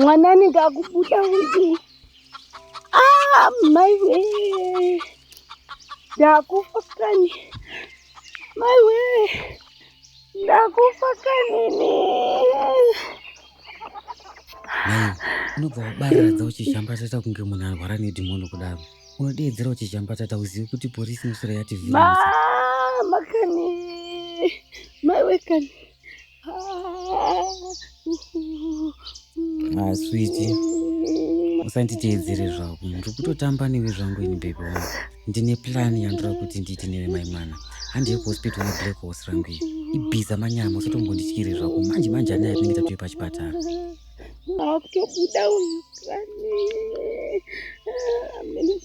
mwana anenge akubuda kuti ah, maiwe ndakufa kani maiwe ndakufa kanini unobva wabarira dzauchishamba toita kunge munhu arwara nedhimoni kudaro unodeedzera kuti chambatata hauzivi kuti porisi musoro yati mama kani maiwe kani ah, switi usanditeedzere zvako ndiri kutotamba newe zvangu ini bebe wangu ndine plani yandira kuti ndiite newe mai mwana handiye kuhospital neblack horse rangu iyi ibhiza manyama usatombondityire zvako manje manje anaya tinenge tatoye pachipatara akutobuda uyu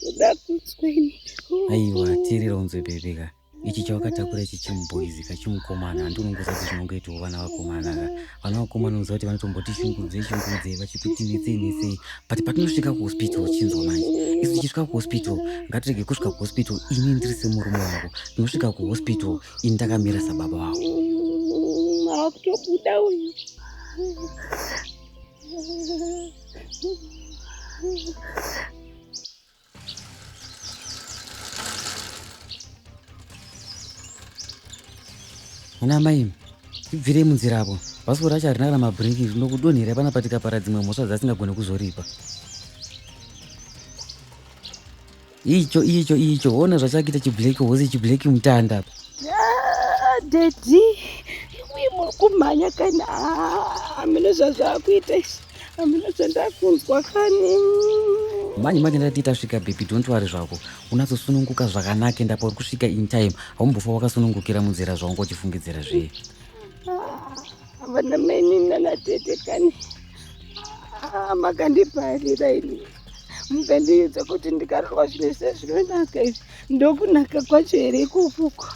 kuda kutsweni aiwa teerera unzwe bebe ka ichi chawakatakura ichi chimuboizi ka chimukomana handi unongoza kuti zvinongoitawo vana vakomana ka vana vakomana unoziva kuti vanotomboti shungudze shungudze vachikuti netsei netsei but patinosvika kuhospital uchinzwa manje isu tichisvika kuhospital ngatirege kusvika kuhospital ini ndiri semurume wako tinosvika kuhospital ini ndakamira sababa wako akutobuda uyu Mwana mai ibvirei munzira apo bhasikoro racho harina kana mabhiriki rinokudonhera pana patikapara dzimwe mhosva dzasingagone kuzoripa Icho icho icho hona zvachakita chiblack horse chiblack mutanda apa. Ah, daddy imwe muri kumhanya kani hamina ah, zvazvakuita izvi hamina zvandakunzwa kani manje manje ndati tasvika baby don't worry zvako unatsosununguka zvakanaka enda pauri kusvika in time haumbofa wakasunungukira munzira zvaunga uchifungidzira zvee ah, vana maini nanatete kani makandiparira ini mukandiudza kuti ndikarohwa zvinhu se zvinonaka izvi ndokunaka kwacho here ikukuko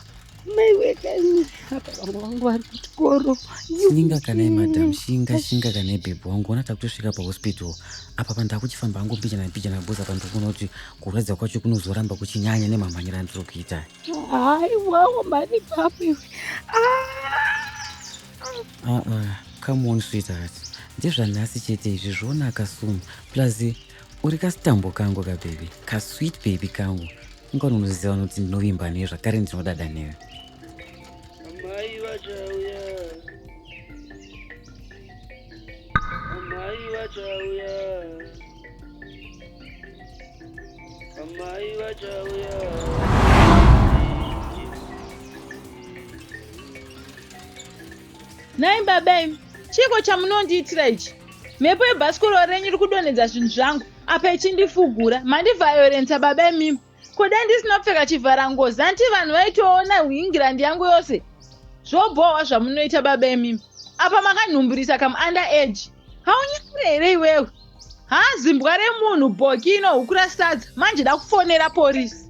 shinga kana madam shinga shinga kana ibhebhi wangu ona takutosvika pahospital apa panhu takuchifamba hangu mbichana mbichana boza panhu tikuona kuti kurwadza kwacho kunozoramba kuchinyanya nemamhanyira andiri kuita haiwawo mani papi ah! uh -uh. come on sweetheart ndezvanhasi chete izvi zvonaka soon plus uri kasitambo kangu kabhebhi kasweet bhebhi kangu ungani unoziva nokuti ndinovimba newe zvakare ndinodada newe amai vachauya amai vachauya Amai vachauya. Nhai baba imi, chiiko chamunondiitira ichi? Mhepo yebhasikoro renyu iri kudonhedza zvinhu zvangu apa ichindifugura. Mandivhayorensa baba imimi. Ko dai ndisina kupfeka chivhara ngozi anti vanhu vaitoona England yangu yose. Zvobhohwa zvamunoita baba imimi. Apa makanhumburisa kam under age. Haunyangure here iwewe? Haa zimbwa remunhu bhoki inohukura sadza manje dakufonera porisi.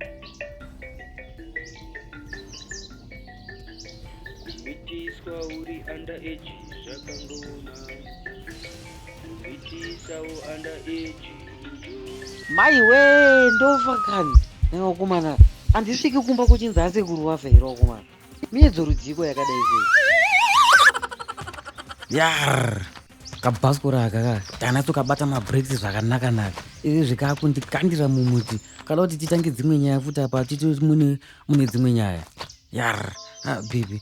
Kumitiswa uri under age zvakangooma. Mai wee ndofa kani nevakomana handisviki kumba kuchinzi asekuru vafa here vakomana miedzo rudziko yakadai sei yar kabhasikora aka ka tanatso kabata mabreaks zvakanaka naka izvi zvikakundikandira mumuti kada kuti titange dzimwe nyaya futi apa titi mune dzimwe nyaya yar ah, bibi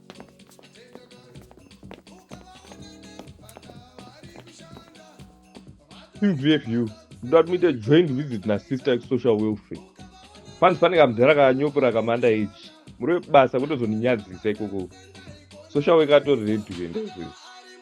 qvfu that meet a joint visit na sister social welfare fans pane kamudhara kanyopora kamanda ichi muri webasa kutozoninyadzisa ikoko social worker atori ready kuendazvese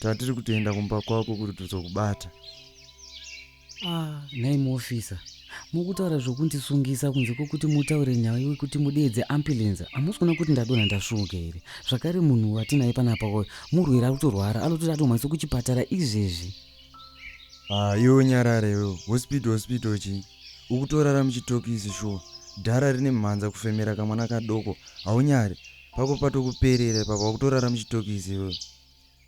tatiri kutoenda kumba kwako kuti tizokubata ah, nhai muofisa mukutaura zvokundisungisa kunze kwokuti mutaure nyaya yekuti mudeedze ambulense hamusi kuona kuti ndadona ndasvuuka here zvakare munhu watinaye panapa oyo murwere ari kutorwara anototi atomhanyisa kuchipatara izvezvi ah, iwe unyarare iwe hospital hospital chii ukutorara muchitokisi shuwa dhara rine mhanza kufemera kamwana kadoko haunyari pako patokuperera ipapa wakutorara muchitokisi iwewe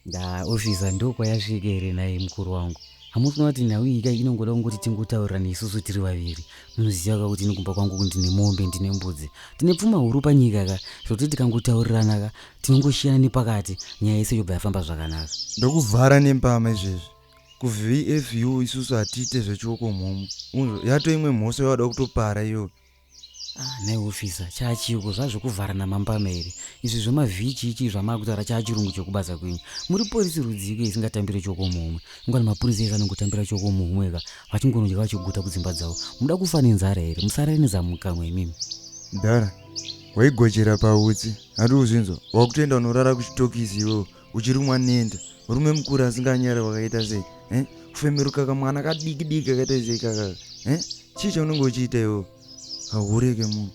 ndaa officer ndokwayasvika here nhai mukuru wangu hamusi kuona kuti nhau iyi kai inongoda kungoti tingotaurirana isusu tiri vaviri munoziva ka kuti inikumba kwangu kuti ndine mombe ndine mbudzi tine pfuma huru panyika ka zvokuti tikangotaurirana ka tinongoshiyana nepakati nyaya yese yobva yafamba zvakanaka ndokuvhara nembama izvezvi kuvfu isusu hatiite zvechioko mhomho unzvo yato imwe mhosva yawada kutopara iyoyo Ah, nhai ofisa chaachiiko zvazvekuvharana mambama here izvi zvemavhichi ichi zvamaakutaura chaachirungu chekubasa kwenyu muri porisi rudziiko isingatambire choko muhumwe ingwani mapurisa ese anongotambira choko muhumwe ka vachingonodya vachiguta kudzimba dzavo muda kufa nenzara here musarare nezamukamwe imimi mdara waigojera pautsi handi uzvinzwa wakutoenda unorara kuchitokisi iwewo uchirumwa nenda murume mukuru asinganyare wakaita sei eh? kufemeruka kamwana kadiki diki kakaita sei kakaka eh? chii chaunenge uchiita iwo haureke munhu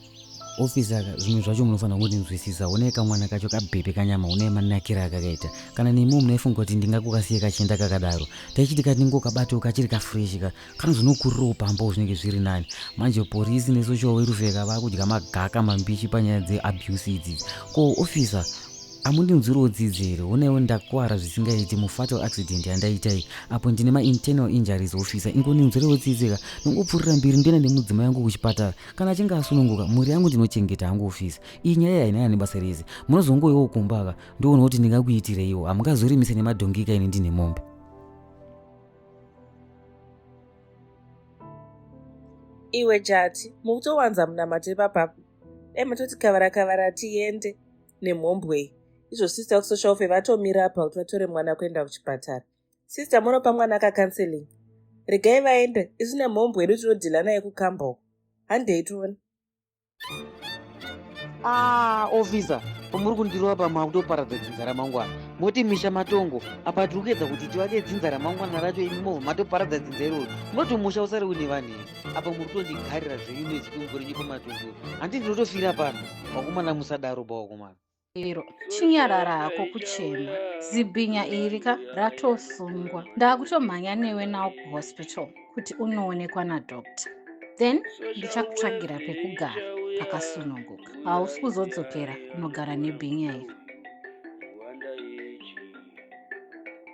ofisa ka zvimwe zvacho munofanira kundinzwisisa une kamwana kacho kabhebhe kanyama une manakira akakaita kana nemiwo munaifunga kuti ndingakukasiye kachenda kakadaro taichiti katingokabatewo kachiri kafreshi ka kana zvinokurirawo pambawo zvinenge zviri nani manje porisi nesocial werufeka vakudya magaka mambishi panyaya dzeabuse idzidzi ko officer amundinzwirawo dzidzi here honaiwo ndakuvara zvisingaiti mufatal accident yandaitai apo ndine mainternaal injuries officer ingoninzwirawo tsidzika ndongopfurira mbiri ndienda nemudzima yangu kuchipatara kana achinge asununguka mhuri yangu ndinochengeta hangu officer iyi nyaya iyi hainana nebasa rese munozongoiwo kumbaka ndioona kuti ndingakuitireiwo hamungazorimise nemadhongika ini ndine mombe iwe jati mukutowanza munamato ipapapa dai matoti kavara kavara tiende nemhombwei izvo sister kusocial fe vatomira apa kuti vatore mwana kuenda kuchipatara sister munopa mwana akakanseling regai vaende isu nemhombwe yedu tinodhila naye kukamba uko handei tione ah officer pamuri kundirova pamwe akutoparadza dzinza ramangwana moti misha matongo apa tiri kuedza kuti tivake dzinza ramangwana racho imi mobva matoparadza dzinza iroro munoti musha usari une vanhu here apa muri kutondigarira zvenyu nezikungori nyiko matongo handi ndinotofira pano vakomana musadaro bawakomana chero chinyarara hako kuchema zibhinya iri ka ratosungwa ndakutomhanya newe nawo kuhospital kuti unoonekwa nadoctor then ndichakutsvagira pekugara pakasununguka hausi kuzodzokera kunogara nebhinya iri